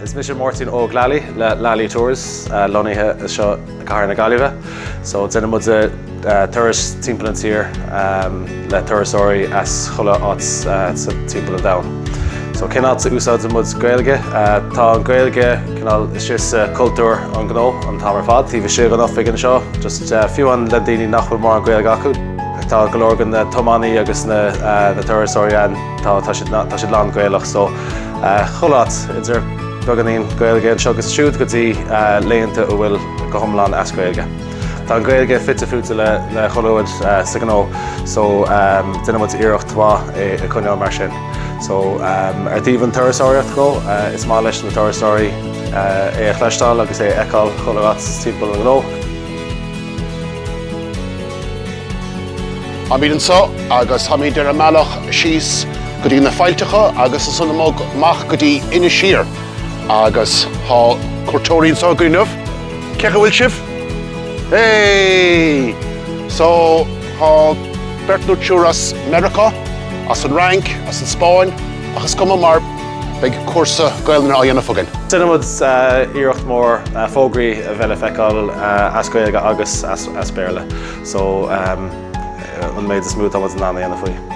Is mise Máirtín Óg Lally le Lally Tours, lonnaithe anseo i gcathair na Gaillimhe. So déanann muid turais timpeall an tír le turasóirí as chuile áit sa timpeall an domhain. So cén áit a úsáideann muid Gaeilge? Tá an Ghaeilge cineál istigh sa cultúr an gnó an t-am ar fad. Taobh istigh den oifig anseo just fiú amháin le daoine nach bhfuil mórán Gaeilge acu. Tá go leor de na tiománaí agus na turasóirí ann, tá siad lán Gaelach so chuile áit, idir beagáinín Gaeilge anseo agus siúd go dtí laethanta atá go hiomlán as Gaeilge. Tá an Ghaeilge fite fuaite le chuile rud sa ghnó so déanann muid iarracht mhaith é a choinneáil mar sin. So ar taobh an turasóireacht dhe, is maith leis na turasóirí é a chloisteáil agus é a fheiceáil chuile áit timpeall an ghnó. Táimid anseo agus táimid ar an mbealach síos go dtí na faillteacha agus ansin amach go dtí Inis Oírr agus tá cuairteoirí anseo againn inniu. Cé chaoi a bhfuil sibh? Hey! So, tá beirt nó triúr as Meiriceá, as an Fhrainc, as an Spáinn, ach is cuma mar Beidh cúrsa Gaolainne á dhéanamh againn. Déanann muid iarracht mór fógraí a bheith le feiceáil as Gaeilge agus as Béarla so an méid is mó atá muid in ann a dhéanamh faoi.